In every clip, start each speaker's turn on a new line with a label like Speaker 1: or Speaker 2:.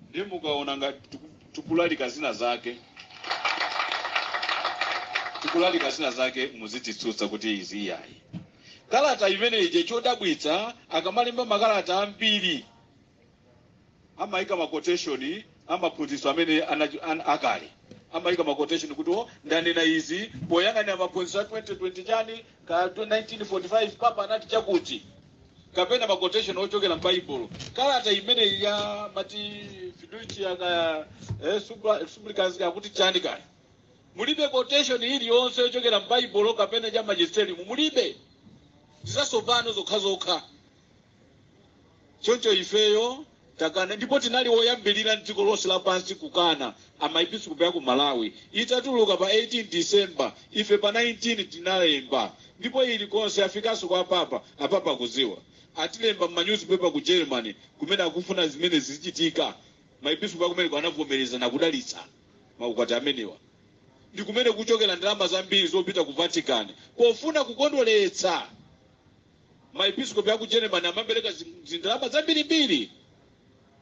Speaker 1: ndiye mukaona ngati tiku- tikulalika zina zake tikulalika zina zake muzititsutsa kuti izi iyayi kalata imene ija chodabwitsa akamalemba makalata ambiri amayika ma quotation a maphunzitso amene anacho- an- akale amayika ma quotation kuti o ndanena izi poyang'anira maphunzitso a 2020 chani ka 1945 papa anati chakuti kapena ma quotation ochokera m'baibulo kalata imeneyi ya mati fiducia ka eh, supra- supplicans yakuti chani kaya mulibe quotation iliyonse yochokera m'baibulo kapena ya magisterium mulibe nzatsopano zokhazokha Choncho ifeyo takana ndipo tinali oyambirira m'dziko lonse lapansi kukana. Ife Maepiskopi a ku Malawi itatuluka pa 18 December, ife pa 19 tinalemba ndipo ili konse yafikanso kwa Apapa. Apapa akudziwa. Atilemba m'manyuzipepa ku Germany kumene akufuna zimenezi zichitike. Maepiskopi akumeneko anavomereza nakudalitsa maukwati amenewa. Ndi kumene kukuchokera ndalama zambiri zopita ku Vatican pofuna kukondweretsa. maepiskopi aku germany amapereka zi- zindalama zambirimbiri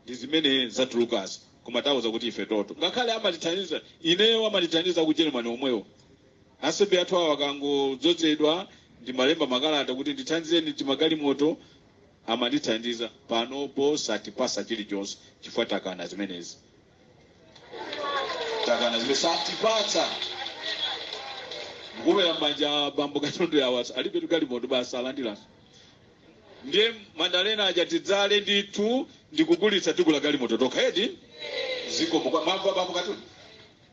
Speaker 1: ndi zimene zatulukazi koma tauza kuti ife toto ngakhale amatithandiza ineyo amandithandiza ku germany omwewo asembe athu awa akangodzozedwa ndimalemba makalata kuti ndithandizeni timagalimoto amandithandiza panopo satipatsa chilichonse chifukwa takana zimenezi takana zimene satipatsa kukomera m'manja bambo katondo awa alibe tugalimoto basi alandiranso ndiye mandalena aja tidzale ndithu ndikugulitsa tigule galimoto tokha edi zikomo kwa mambo a bambo katondo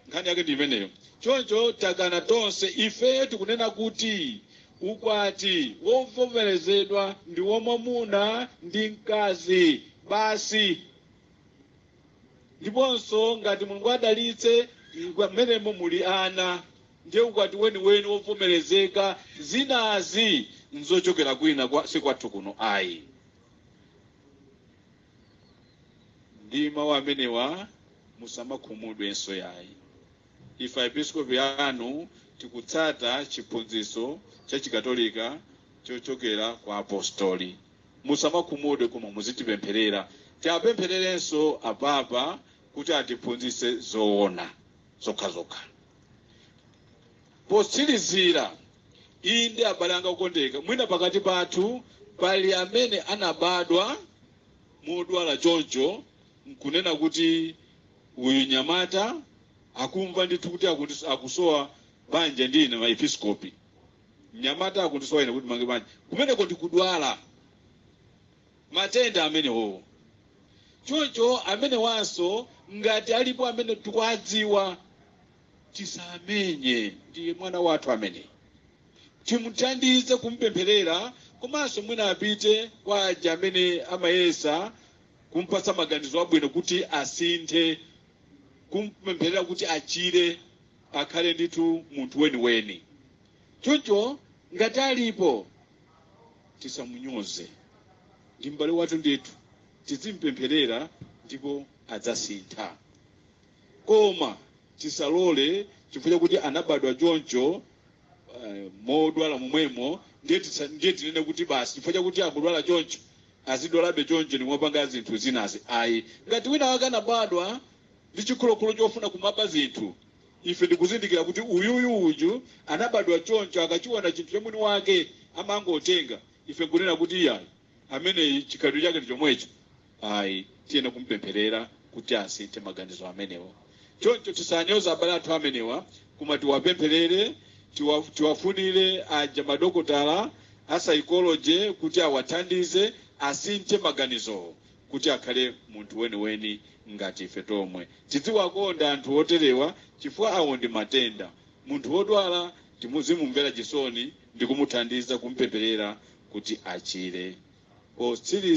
Speaker 1: nkhani yake ndi imeneyo choncho takana tonse ife tikunena kuti ukwati wovomerezedwa ndi wamwamuna ndi mkazi basi ndiponso ngati mulungu adalitse ngwa- mmenemo muli ana ndiye ukwati weniweni wovomerezeka zinazi nzochokera kwina kwa si kwathu kuno ayi ndi mawu amenewa musamakhumudwenso yayi ife aepiskopi anu tikutsata chiphunzitso cha chikatolika chochokera kwa apostoli musamakhumudwe koma muzitipempherera tiapemphererenso apapa kuti atiphunzitse zoona zokhazokha potsirizira inde abale anga okondeka mwina pakati pathu pali amene anabadwa modwala choncho nkunena kuti uyu nyamata akumva ndithu kuti akuti- akusowa banja ndi ine maepiskopi mnyamata akundisowa ine kuti ndimange banja kumeneko ndikudwala matenda amenewowo choncho amenewanso ngati alipo amene tikuwadziwa tisamunyoze ndi mwana wathu amene timuthandize kumpempherera komanso mwina apite kwa aja amene amayesa kumpatsa maganizo abwino kuti asinthe kumpempherera kuti achire akhale ndithu munthu weniweni choncho ngati alipo tisamunyoze ndi m'bale wathu ndithu tizimpempherera ndipo adzasintha koma tisalole chifukwa chakuti anabadwa choncho eh, modwala momwemo ndiye tisa- ndiye tinene kuti basi chifukwa chakuti akudwala choncho azidwalabe choncho nkumapanga zinthu zinazi ayi ngati wina wake anabadwa ndi chikhulokhulo chofuna kumaba zinthu ife ndikuzindikira kuti uyuyu uju anabadwa choncho akachiona chinthu cha mwini wake amangotenga ife nkunena kuti iyayi ameneyi chikhalidwe chake ndi chomwecho ayi tiyenera kumpempherera kuti asinthe maganizo amenewa choncho tisanyoze abale athu amenewa koma tiwapempherere tiwa- tiwafunire aja madokotala a psychology kuti awathandize asinthe maganizowo kuti akhale munthu weniweni ngati ife tomwe. Tidziwakonda anthu oterewa chifukwa awo ndi matenda. Munthu wodwala tizimumvera chisoni ndi kumuthandiza kumpempherera kuti achire. Potsiriza